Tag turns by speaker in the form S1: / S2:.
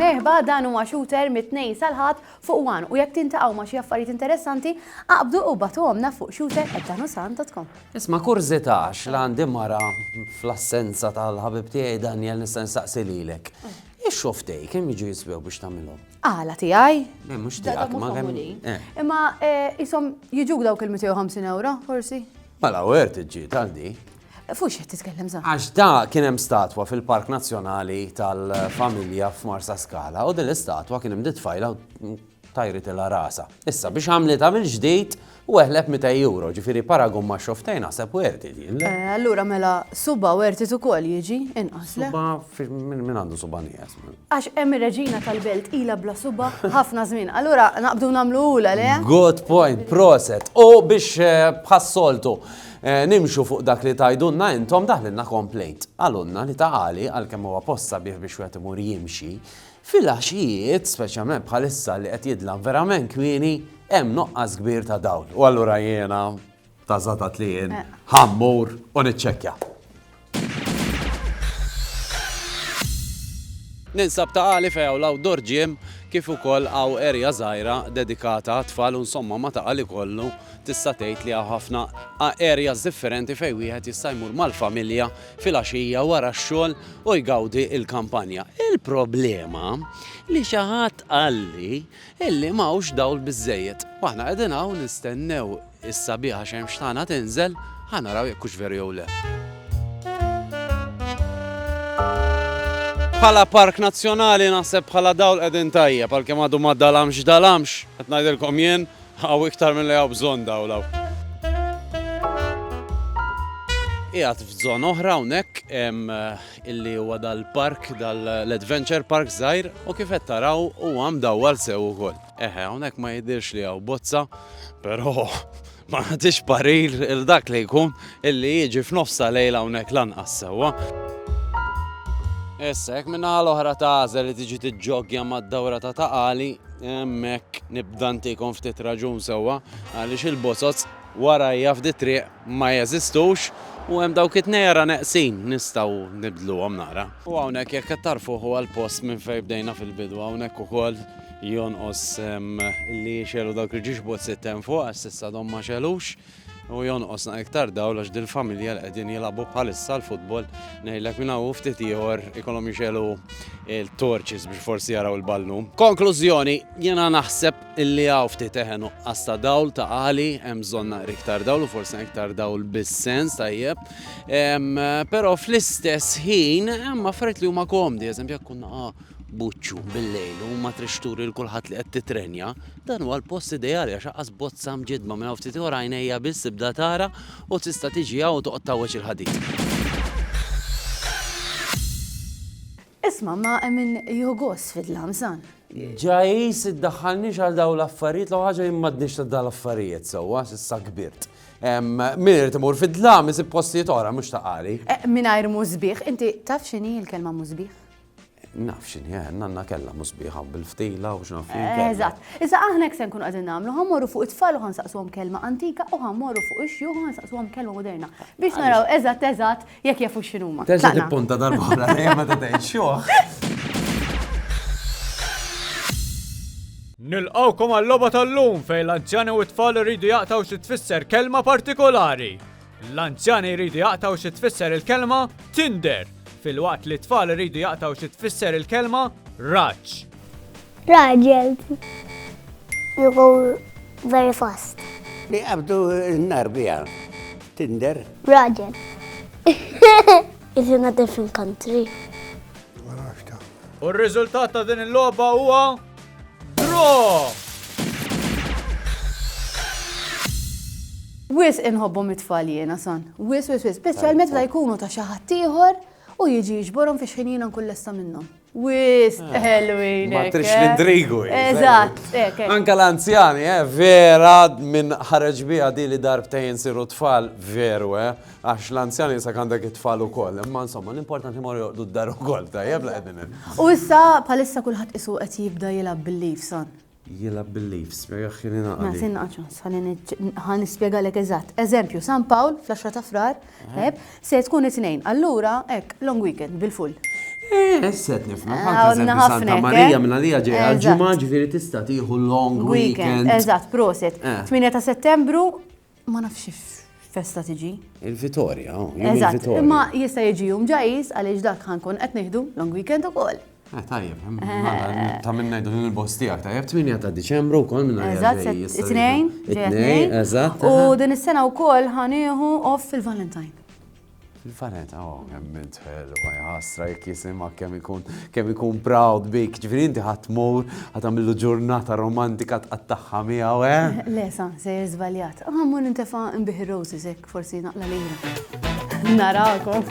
S1: Merħba dan huwa shooter mit-tnejn sal-ħadd fuq wan u jekk tintaqgħu ma' xi affarijiet interessanti, aqbdu u batuhomna fuq shooter@danusan.com. Isma' kurżità
S2: għax la għandi mara fl-assenza tal-ħabib tiegħi Daniel nista' nsaqsi lilek. Ix-xogħol f'tej kemm jiġu jiswew biex tagħmilhom? Għala tiegħi?
S1: Le, mhux tiegħek ma
S2: kemm. Eh. Imma
S1: eh, isom jiġuk dawk il-250 euro, forsi? Mela, u għert iġġi
S2: tal di. Fux jett
S1: titkellem za. Għax da kien hemm
S2: statwa fil-Park Nazzjonali tal-Familja f'Marsa Skala u din l-istatwa kien hemm ditfajla tajri tela rasa. Issa biex għamlita mill-ġdid U eħleb 200 euro, ġifieri paragun ma' xoftej naħseb werti din. le? Eh, Allura mela
S1: suba wertit ukoll jiġi inqas. le? Suba fi- min min
S2: għandu suba nieqes. Għax hemm ir-reġina
S1: tal-belt ila bla suba ħafna żmien. Allura naqbdu nagħmlu ula le? Good point,
S2: proset. U biex eh, bħas-soltu eh, nimxu fuq dak li tajdunna intom daħlinna komplejt. Għalunna li ta' għali għalkemm huwa posta bih biex wieħed imur jimxi, Fil-għaxijiet, speċjalment bħalissa li qed jidlam verament kmieni, hemm nuqqas kbir ta' dawl. U allura jiena, ta' żatat li jien, ħa mmur u niċċekkja. Ninsab ta' għali fejn hawn l-outdoor gym kif ukoll hawn erja żgħira dedikata għat-tfal u nsomma ma' ta' għali kollu tista' tgħid li hawn ħafna erjas differenti fejn wieħed jista' jmur mal-familja filgħaxija wara x-xogħol u jgawdi l-kampanja. Il-problema li xi ħadd qalli illi m'hawnx dawl biżżejjed. Waħna qegħdin hawn nistennew is-sabiħa xemx tagħna tinżel, ħa naraw jekk hux veru jew le. Bħala park nazzjonali naħseb bħala dawl qegħdin tajjeb għalkemm għadu ma dalamx dalamx, qed ngħidilkom jien, Hawn iktar milli hawn bżonn dawl hawn. Qiegħed f'zona oħra hawnhekk illi huwa dal-park, dal-adventure park żgħir u kif qed taraw huwa mdawwal sew ukoll. Eħe, hawnhekk ma jidhirx li hawn bozza, però ma nagħtix parir il dak li jkun illi jiġi f'nofs ta' lejl hawnhekk lanqas sewwa. Issa, jekk min-naħa l-oħra tagħżel li tiġi tiġġoggja mad-dawra ta' Ta' Qali, Hemmhekk nibda ntikom ftit raġun sewwa għaliex il-bozoz warajja f'di triq ma jeżistux u hemm dawk it-tnejjara neqsin nistgħu nibdluhom naqra. U hawnhekk jekk qed tagħrfuh huwa l-post minn fejn bdejna fil-bidu hawnhekk ukoll jonqos li jixgħelu dawk il-ġixbozzit hemm fuq għax s'issa għadhom ma xegħlux. U jonqosna iktar dawl għax dil-familja li qegħdin jilagħbu bħalissa l-futbol ngħidlek minn hawn ftit ieħor ikollhom jixelu il-torċis biex forsi jaraw il-ballum. Konklużjoni, jiena naħseb illi hawn ftit eħen nuqqas ta' dawl ta' għali hemm bżonn naqri iktar dawl u forsi iktar dawl bis-sens tajjeb. Però fl-istess ħin hemm affarijiet li huma komdi, eżempju jekk kunna buċċu bil-lejl u ma trixturi l-kulħadd li qed titrenja, Dan huwa l-post ideali għax aqqas bozza mġiddma minn hawn ftit ieħor għajnejja biss tibda tara u tista' tiġi hawn u toqgħod tgħawweġ il-ħadid.
S1: Isma' imma hemm min jieħu gost fid-dlam, San. Ġajs,
S2: iddaħħalniex għal dawn l-affarijiet, l-ewwel ħaġa jien m'għadniex ta' dawn l-affarijiet sewwa, s'issa kbirt. Min irid imur fid-dlam isib postijiet oħra mhux ta' qari. Mingħajr musbieħ,
S1: inti taf x'inhi l-kelma musbieħ? Naf
S2: x'inhi, eh, nanna kellha mhux sbieħa u bil-ftila u x'naf fien. Eżatt. Iżda
S1: aħna hekk se nkunu qegħdin nagħmlu, ħammorru fuq it-tfal u ħansaqsuhom kelma antika u ħammorru fuq ix-xjuħ u ħansaqsuhom kelma moderna biex naraw eżatt eżatt jekk jafu x'inhuma. Terġa' tippunta darb'oħra
S2: lejha meta tgħid xjuħ.
S3: Nilqgħukom għal-logħba tal-lum fejn l-anzjani u t-tfal iridu jaqtgħu xi tfisser kelma partikolari. L-anzjani jridu jaqtgħu xi tfisser il-kelma Tinder, filwaqt li t-tfal iridu jaqtgħu xi tfisser il-kelma raġġ.
S4: Raġel. You go very fast. Li qabdu
S5: n-nar biha. Tinder. Raġel.
S4: Is in a different country.
S3: U r-riżultat ta' din il-logħba huwa Draw!
S1: Wis inħobbu mit-tfal jiena son. Wis, wis, wis. Speċjalment meta jkunu ta' xi ħadd ieħor u jiġi jiġborhom fi xħin jiena nkun lesta minnhom. Wis, ah. ħelwin. Ma trix eh? l-indrigu.
S2: Eh, Eżatt,
S1: eh, Anka l-anzjani,
S2: eh, vera minn ħareġ bija di li darbtejn siru tfal veru, eh. Għax l-anzjani issa għandek it-tfal ukoll, imma insomma l-importanti morru joqdu d-dar ukoll, tajjeb la
S1: qegħdin
S2: hemm.
S1: U issa bħalissa kulħadd
S2: isu
S1: qed jibda
S2: jilgħab
S1: bil-leaves,
S2: son.
S1: Jilgħab
S2: bil-leaves, spjegah ħin inaqali. Mela sin naqgħod ħalli
S1: ħa nispjegalek eżatt. Eżempju, San Pawl fl-10 ta' Frar, tajjeb, se tkun it-Tnejn, allura hekk long weekend bil-full. Eh, issa qed
S2: nifhmek. Għandna ħafna. Santa
S1: Marija minn
S2: għalija ġejja l-ġimgħa ġifieri
S1: tista'
S2: tieħu long weekend. Eżatt, proset. 8
S1: ta' Settembru Ma nafx festa tiġi. Il-Vitorja,
S2: oh, jum Eżatt, il-Vitorja. imma jista'
S1: jiġi
S2: jum
S1: ġajis għaliex dak ħankun qed nieħdu long weekend ukoll. Eh, tajjeb, hemm- Eh.
S2: mela, ta' minn ngħidu din il-bost tiegħek tajjeb 8 ta' Diċembru wkoll minn Eżatt, se- it-tnejn,
S1: ġejja it-tnejn. Eżatt. U aha. din
S2: is-sena
S1: wkoll ħanieħu off fil-Valentine. Il-Vanetta,
S2: oh, kemm int ħelwa, jħasra jekk jisimha kemm ikun kemm ikun proud bik. Ġifieri inti ħadd mur ħadd għamillu ġurnata romantika tqattagħha miegħu, eh? Le, sa, se
S1: żbaljat. Għammu ah, nintefa' nbih roses hekk forsi naqla lejna. Narakom.